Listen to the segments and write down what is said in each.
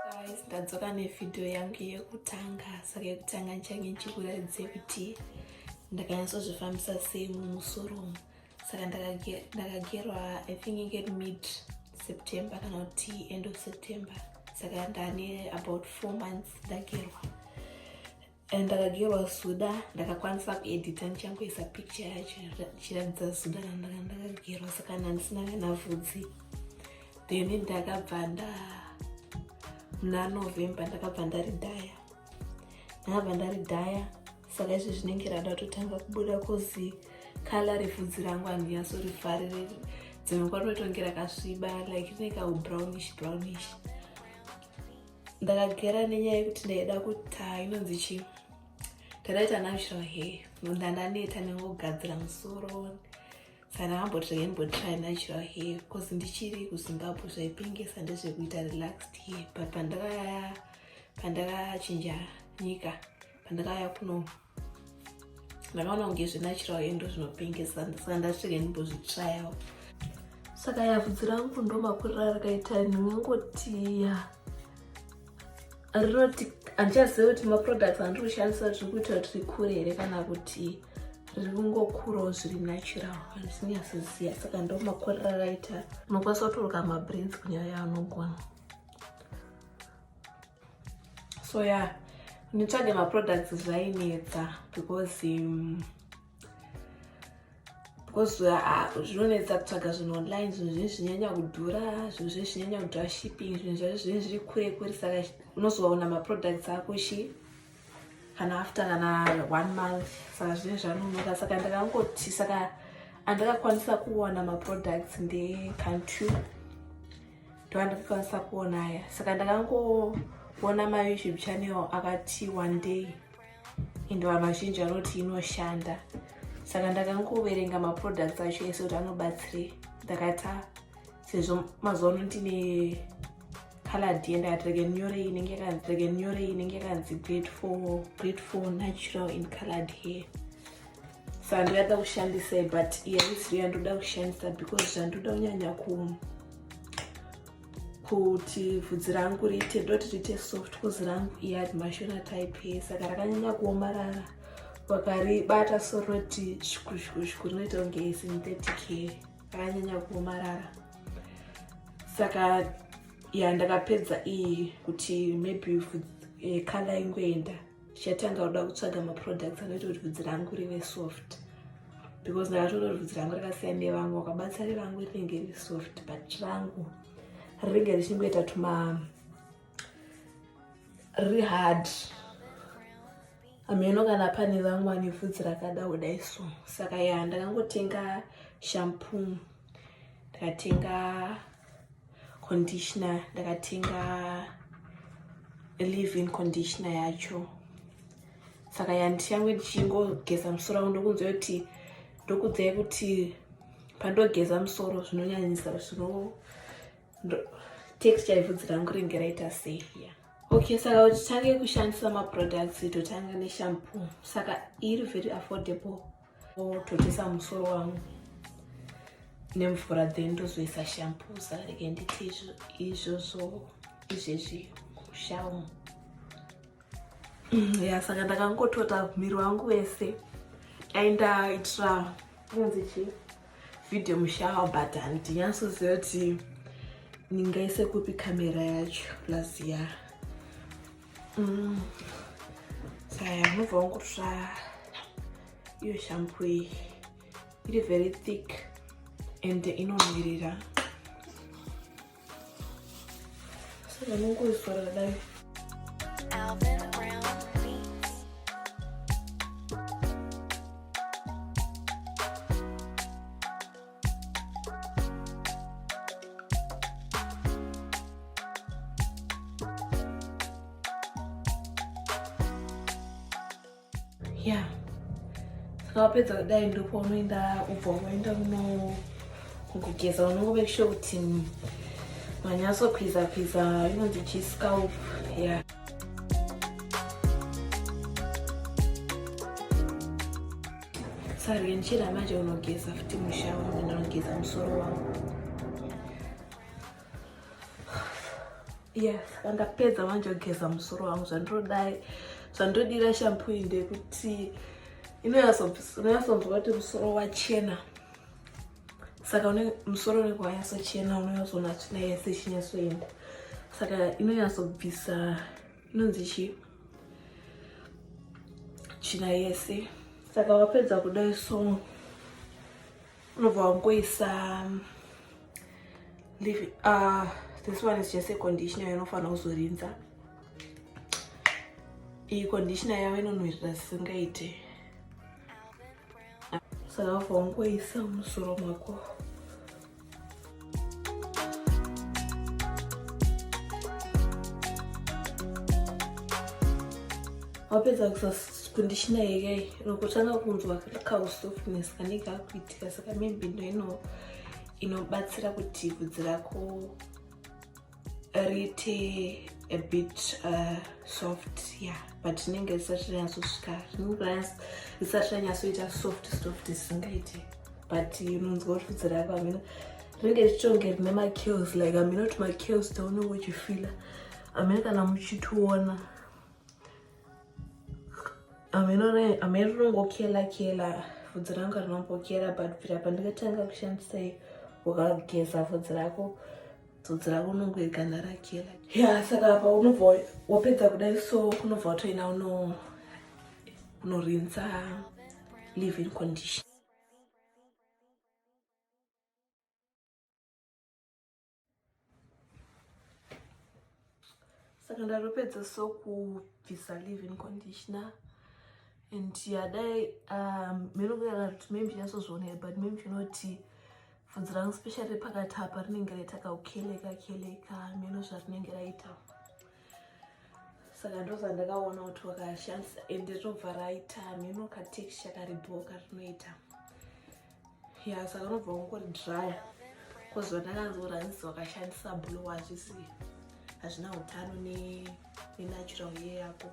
guys ndadzoka nevhidhiyo yangu yekutanga saka yekutanga ndichange ndichikuratidze kuti ndakanyatsozvifambisa sei mumusoro umu saka ndakagerwa i think inge mid september kana kuti end of september saka ndane about four months ndagerwa and ndakagerwa zuda ndakakwanisa kuedita ndichangoisa picture yacho ndichiratidza zuda randanga ndakagerwa saka nandisina kana vhudzi then ndakabva nda muna november ndakabva ndari dhaya ndakabva ndari dhaya saka izvi zvinenge rada kutotanga kubuda kozi kala revhudzi rangu handiyaso rifarire dzimwe kwatotonge rakasviba like rine kaubrownishbrownish brown ndakagera nenyaya yekuti ndaida kuti inonzi chii ndakaita natural hair munhu andaneta nengogadzira musoro saka ndakamboti ndaimbotry natural hair bcause ndichiri kuzimbabwe zvaipengesa ndezvekuita relaxed hair but pandakaya pandakachinja nyika pandakaya kuno ndakaona kunge zvenachirawo endo zvinopengesa saka ndasvika ndimbozvitsvayawo saka yavhudzi rangu ndomakurira rakaita ndingangoti ya rinoti handichaziva kuti maproducts andiri kushandisa zviri kuita kuti rikure here kana kuti riri kungokurawo zviri natural handisinyasiziva saka ndomakurira rakaita unokwanisa kutoroka mabrains kunyaya yaanogona so yeah nditsvage maproducts zvainetsa because um, because uh, ah, zvinonetsa kutsvaga zvinhu online zvinhu zvinhu zvinyanya kudhura zvinhu zvinhu zvinyanya kudhura shipping zvinhu zvacho zvinhu zviri kure kure saka unozoona maproducts ako shi kana after kana one month saka zvinhu zvanonoka saka ndakangoti saka andakakwanisa kuwana maproducts ndecountry ndovandakakwanisa kuona aya saka ndakangoona mayoutube channel akati one day ende vanhu vazhinji vanoti inoshanda saka ndakangoverenga maproducts acho ese kuti anobatsirei ndakata sezvo mazuva ano ndine caladi yendakati rege nyore inenge yakanzi rege nyore inenge yakanzi great for great for natural in calad hair sandira da kushandisai but yaisiri yandoda kushandisa because zvandoda kunyanya ku kuti vhudzi rangu riite ndoti riite soft bcause rangu iyari mashona type saka rakanyanya kuomarara wakaribata soroti shikushikushku rinoita kunge synthetic hair rakanyanya kuomarara saka ya ndakapedza iyi kuti maybe vhudzi eh, kala ingoenda Ndichatanga kuda kutsvaga maproducts anoita kuti vhudzi rangu rive soft because ndakatoona kuti vhudzi rangu rakasiyana nevamwe wakabatsa revangu rinenge riri soft but rangu rinenge richingoita tuma riri hard hameno kana pane vamwe vane vhudzi rakada kudai so saka ya ndakangotenga shampoo ndikatenga conditioner ndakatenga live in conditioner yacho saka yandichange ndichingogeza musoro wangu ndokunzwa kuti ndokudzai kuti pandogeza musoro zvinonyanyisa zvino texture yevhudzi rangu ringe raita sei ya okay saka kuti tange kushandisa maproducts totange neshampoo saka iri very affordable Totesa musoro wangu nemvura then ndozoisa shampusa rege nditi izvozvo izvezvi kushamu mm, ya saka ndakangotota miri wangu wese aindaitira kunzi chi video mushawa but handinyasoziva kuti ndingaise kupi kamera yacho plus ya yeah. Mm. Saya mubva wangu kutsva iyo shampo iyi iri very thick and inonhuwirira saka nongoisora kudai yeah saka wapedza kudai ndipo unoenda ubva unoenda uno kugeza unongove sure kuti manyatso kwiza kwiza inonzi chiscalp yeah Saryenchira manje unogeza futi musha wangu ndinogeza musoro wangu. Yes, ndapedza manje kugeza musoro wangu zvandinodai zvandodira shampoo iyi ndekuti inoyasonzwa kuti musoro wachena saka une musoro unenge wanyatsochena unonyatsoona tsvina yese ichinyatsoenda saka inonyatsobvisa inonzi chii china yese saka wapedza kudai so unobva wangoisa um, uh, this one is just a conditioner yanofanira kuzorinza iyi conditioner yavo inonhuhirira zvisingaite saka wabva wangoisa musoro mwako wapedza kundishina here nokutanga kunzwa kausofness kanenge kakuitika saka maybe ndo ino inobatsira kuti vhudzi rako rite a bit uh, soft yeah but rinenge risati ranyatsosvika rinenge risati ranyatsoita soft soft zvisingaite but unonzwa kuti bvudzi rako hamino rinenge richitonge rine makills like hamino kuti makills taunenge uchifila hamino kana muchitiona hamino rinongokela kela bvudzi rangu rinombokela but bvira pandikatanga kushandisai wakageza bvudzi rako tsotsi ravo unongoigana rake ya saka apa unobva wapedza kudai so kunobva watoina unorinza live in condition saka ndaropedza so kubvisa living conditioner and yadai um, minokunyara kuti maybe chasozvionera but maybe chinoti bvunzi rangu special repakati apa rinenge raita kaukeleka keleka mino zvarinenge raita saka ndoza ndakaona kuti wakashandisa ende rinobva raita mino katexture karibhoka rinoita ya saka unobva ungori dry koziva ndakanzwa ranzi wakashandisa blue hazvisi hazvina utano nenatural ne ye yako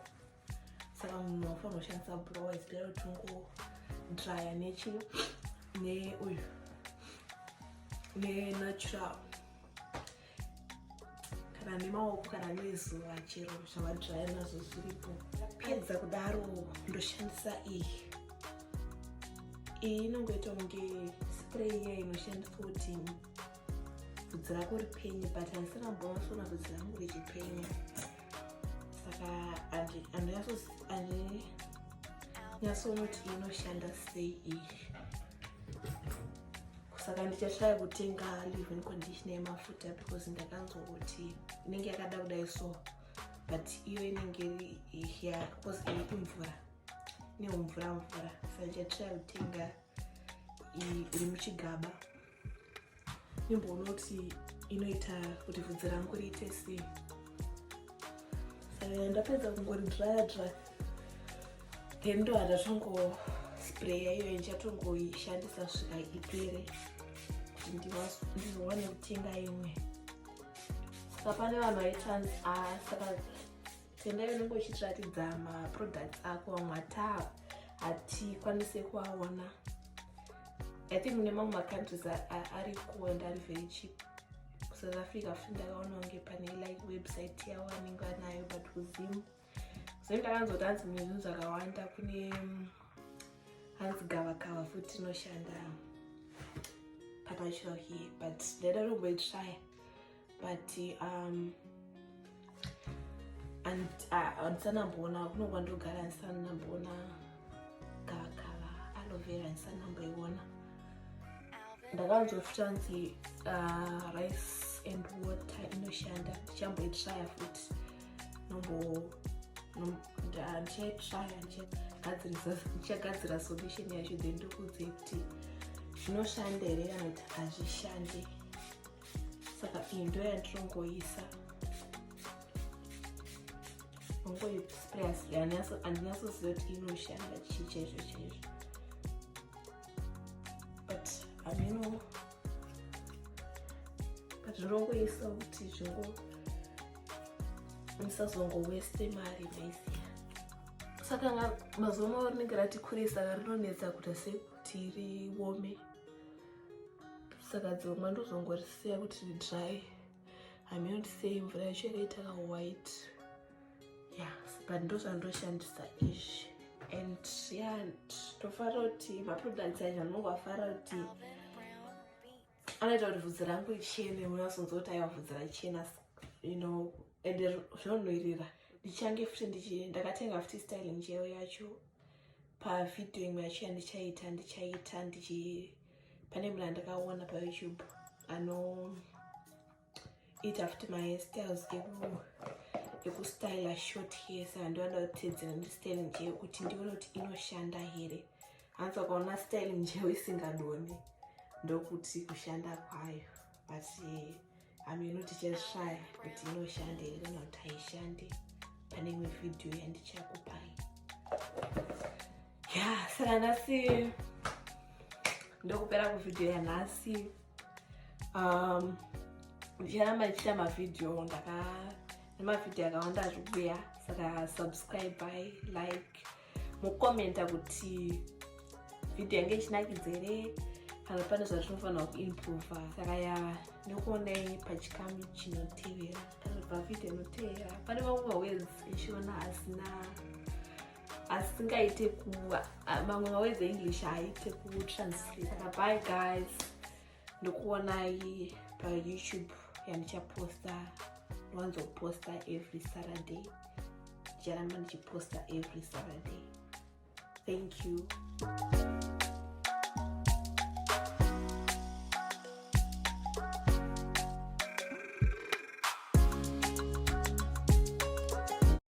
saka munhu wafanira kushandisa blue wise bera kuti ungo dryer nechi neuyu nenatural kana nemaoko kana nezuva chero zvavadzvaya nazvo zviripo pedza kudaro ndoshandisa iyi iyi inongoita kunge spray iya inoshandiswa kuti bvudzi rako ripenye but handisanamboona sona bvudzi rangu richipenya saka andinyasonoti inoshanda sei iyi saka ndichashaya kutenga living conditioner yemafuta because ndakanzwa kuti inenge yakada kudai so but iyo inenge ya because iripi mvura neumvura mvura saka ndichashaya kutenga iri muchigaba nimboona kuti inoita kuti vhudzi rangu riite sei eh, ndapedza kungori dryer dry then ndo handatongo spray yaiyo ndichatongoishandisa svika ipere kuti ndiwane kutenga imwe saka pane vanhu vaitanzi ah, saka tendai unenge uchitiratidza maproducts ako vamwe ataa hatikwanise kuaona i think mune mamwe macountries ariko and ari very cheap kusouth africa futi ndakaona kunge pane like website yavo vanenge vanayo but kuzim zve ndakanzoti hanzi mune zvinhu zvakawanda kune mm, hanzi gavakava futi inoshanda pakachiro here but ndaida tomboitraya but um, andisanamboona kuno kwandogara andisanamboona gavakava aloe vera andisanamboiona ndakanzoti tanzi uh, rice and water inoshanda ndichamboitraya futi ndichaitraya ndichagadzira solution yacho then ndokudze kuti zvinoshanda here kana kuti hazvishande saka iyi ndo yandirongoisa ongoisprandinyatsoziva kuti inoshanda chii chaizvo chaizvo but hameno but ndinongoisa kuti zvingo musazongoweste mari maiziva saka mazuva mavo rinenge rati kurei saka rinonetsa kuita sekuti riome saka dzimwe ndozongorisiya kuti ridry hameno ndisei mvura yacho yakaita ka white ya but ndozvandoshandisa izvi and ya ndofara kuti maproducts acho anongofara kuti anoita kuti vhudzi rangu richene unasonzwa kuti aiwa vhudzi rachena you know ende zvinonoirira ndichange futi ndichi ndakatenga futi styling chero yacho pavhidhiyo imwe yachiya ndichaita ndichaita ndichi pane mna ndakaona payoutube anoita futi mastyles ekustyla short hair saka ndovanda kutedzera ndistyle njee kuti ndione kuti inoshanda here hanzi wakaona style njeo isingadoni ndokuti kushanda kwayo but eh, hameno tichashaya kuti inoshande here kana kuti haishande pane imwe vhidhiyo yandichakupai ya saka nhasi ndokupera kuvhidhiyo yanhasi um, ndicharamba ndichiita mavhidhiyo ndaka nemavhidhiyo akawanda zvikuya saka subscribe by like mukomenta kuti vhidhiyo yange ichinakidza here kana pane zvatinofanirwa kuimprova saka ya nekuonai pachikamu chinotevera panobva vhidhiyo inotevera pane mamwe mawedzi echivana asina asingaite kuva mamwe mawedzi english haaite kutranslate saka bye guys ndokuonai payoutube yandichaposta ndiwanzoposta every saturday ndicharamba ndichiposta every saturday thank you